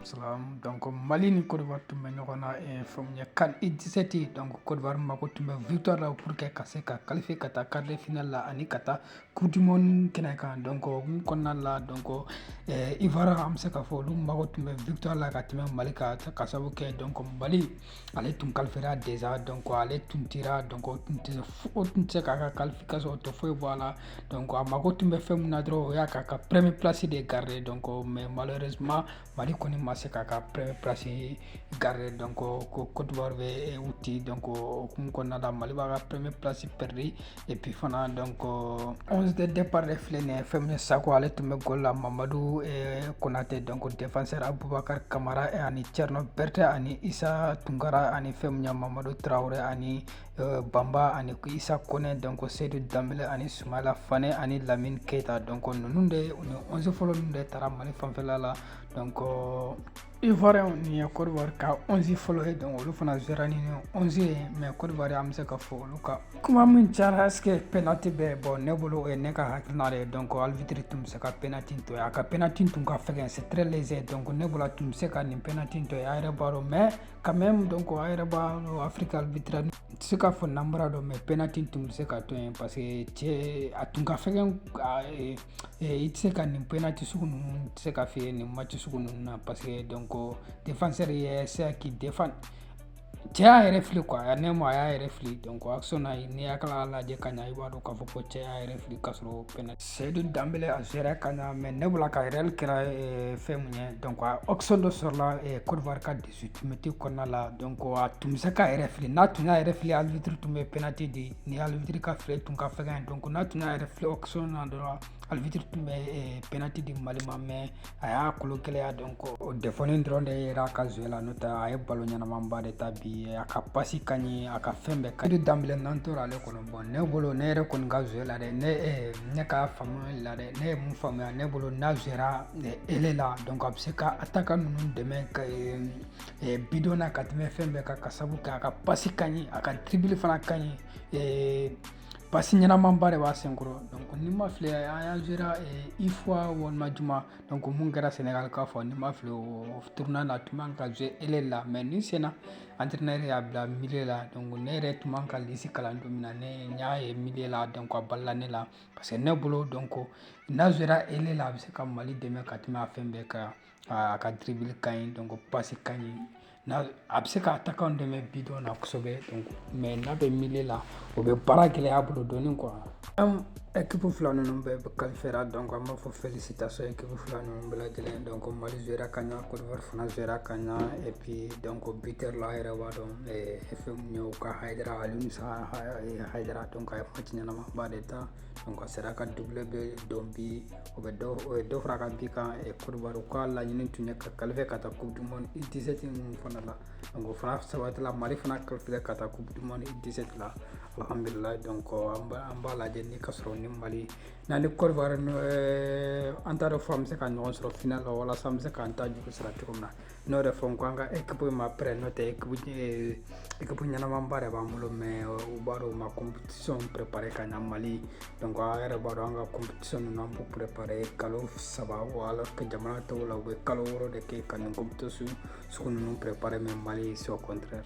Salam donc Mali ni Côte d'Ivoire tun bɛ ɲɔgɔn na eh, fɛn min ye CAN U17 donc Côte d'Ivoire mako tun bɛ victoire la pour que ka se ka qualifier ka taa quart de finale la ani ka taa coupe du monde kɛnɛ kan donc o hukumu kɔnɔna la donc eh, Ivoire an bɛ se k'a fɔ olu mako tun bɛ victoire la ka tɛmɛ Mali kan ka sababu kɛ donc Mali ale tun kalifera deza dɔn kɔ ale tun tira dɔn o tun tɛ o tun tɛ se k'a ka kalifi ka sɔrɔ o tɛ foyi bɔ a la dɔn a mago tun bɛ fɛn min na dɔrɔn o y'a k'a ka prɛmi plasi de garire dɔn kɔ mɛ malima mali kɔni ma se k'a ka prɛmi plasi garire dɔn kɔ ko kotowari bɛ u tɛ dɔn ko kun kɔnɔna la mali b'a ka prɛmi plasi pɛridi et puis fana donc 11 euh, de départ de filɛ nin ye fɛn min ye sako ale tun bɛ gol la mamadu eh, konate donc défenseur abubakar kamara eh, ani cerno berte ani isa tunkara ani fɛn min ye mamadu traore ani euh, bamba ani isa kone donc sedu danbele ani sumayila fane ani lamine keita donc ninnu de ni 11 fɔlɔ ninnu de taara Mali fanfɛla la donc euh, Ivoirien nin ye Côte d'Ivoire ka 11 fɔlɔ ye donc olu fana jouera ni 11 ye mais Côte d'Ivoire an bɛ se ka fɔ olu ka kuma min cayara est-ce que penalty bɛ bon ne bolo o ye ne ka hakilina de ye donc arbitre tun bɛ se ka penalty to yen a ka penalty tun ka fɛgɛn c'est très léger donc ne bolo a tun bɛ se ka nin penalty to yen a yɛrɛ b'a dɔn mais quand même donc a yɛrɛ b'a dɔn Afrique arbitre tɛ se ka fɔ nanbara don mais penalty tun bɛ se ka to yen parce que cɛ a tun ka fɛgɛn Eh, i tɛ se ka nin penalty sugu ninnu tɛ se ka fiyɛ nin match sugu ninnu na parce que donc défenseur ye sera k'i défendre cɛ y'a yɛrɛ fili quoi a ne ma a y'a yɛrɛ fili donc action na n'i y'a kala lajɛ ka ɲa i b'a dɔn k'a fɔ ko cɛ y'a yɛrɛ fili k'a sɔrɔ penalty seyidu danbele a jouera ka ɲa mais ne bolo a ka erreur kɛra eh, fɛn min ye donc action dɔ sɔrɔla eh, Côte d'Ivoire ka 18 mètres kɔnɔna la donc a tun bɛ se k'a yɛrɛ fili n'a tun y'a yɛrɛ fili arbitre tun bɛ penalty di ni arbitre ka file tun ka fɛgɛn donc n'a tun y'a yɛrɛ fili action na dɔrɔn arbitre tun bɛ eh, penalty di Mali ma mais a y'a kolo gɛlɛya donc o défaut nin dɔrɔn de yera a ka jeu la n'o tɛ a ye ballon ɲɛnamanba de tan bi a ka pasi ka ɲi a ka fɛn bɛɛ ka di danbele n'an tora ale kɔnɔ bon ne bolo ne yɛrɛ kɔni ka jeu la dɛ ne eh, ne ka faamuyali la dɛ ne ye mun faamuya ne bolo n'a jouera aile la donc a bɛ se ka attaquant ninnu dɛmɛ ka bidon na ka tɛmɛ fɛn bɛɛ kan ka sabu kɛ a ka pasi ka ɲi a ka tribili fana ka ɲi pasi ɲɛnamanba de b'a senkɔrɔ donc ni n ma fili an y'a jouera UFOA walima jumɛn don min kɛra Sénégal k'a fɔ ni n ma fili o tournoi na tun bɛ ka jouer aile la mais nin sen na entraîneur y'a bila milieu la donc ne yɛrɛ tun b'a ka lisi kalan don min na ne n y'a ye milieu la donc a balala ne la parce que ne bolo donc n'a jouera aile la a bɛ se ka mali dɛmɛ ka tɛmɛ a fɛn bɛɛ kan a ka dribble ka ɲi donc passe ka ɲi n'a a bɛ se ka attaquant dɛmɛ bidon na kosɛbɛ mais n'a bɛ milieu la o bɛ baara gɛlɛya bolo dɔɔni quoi équipe fila ninnu bɛɛ qualifiera donc an b'a fɔ félicitations équipe fila ninnu bɛɛ lajɛlen donc mali jouera ka ɲa Côte d'Ivoire fana jouera ka ɲa et puis donc buteur la a yɛrɛ b'a dɔn fɛn min ye u ka hayidara alimisa hayidara donc a ye match ɲɛnama ba de ta donc a sera ka doublé bi don bi o bɛ dɔ o ye dɔ fara a ka bi kan Côte d'Ivoire ka laɲini tun ye ka qualifier ka taa coupe du monde U17 ninnu fana la donc o fana sabatila Mali fana qualifier ka taa coupe du monde U17 la alhamdulilayi donc an b'a an b'a lajɛ ni ka sɔrɔ ni Mali n'an ni Côte d'Ivoire an t'a dɔn fo an bɛ se ka ɲɔgɔn sɔrɔ final la walasa an bɛ se k'an ta juru sara cogo min na n'o de fɔ n ko an ka équipe in ma prêt n'o tɛ équipe équipe ɲɛnamanba de b'an bolo mais u b'a dɔn u ma compétition préparer ka ɲa mali donc a yɛrɛ b'a dɔn an ka compétition ninnu an b'u préparer kalo saba alors que jamana tɔw la u bɛ kalo wɔɔrɔ de kɛ ka nin compétition sugu ninnu préparer mais mali c'est au contraire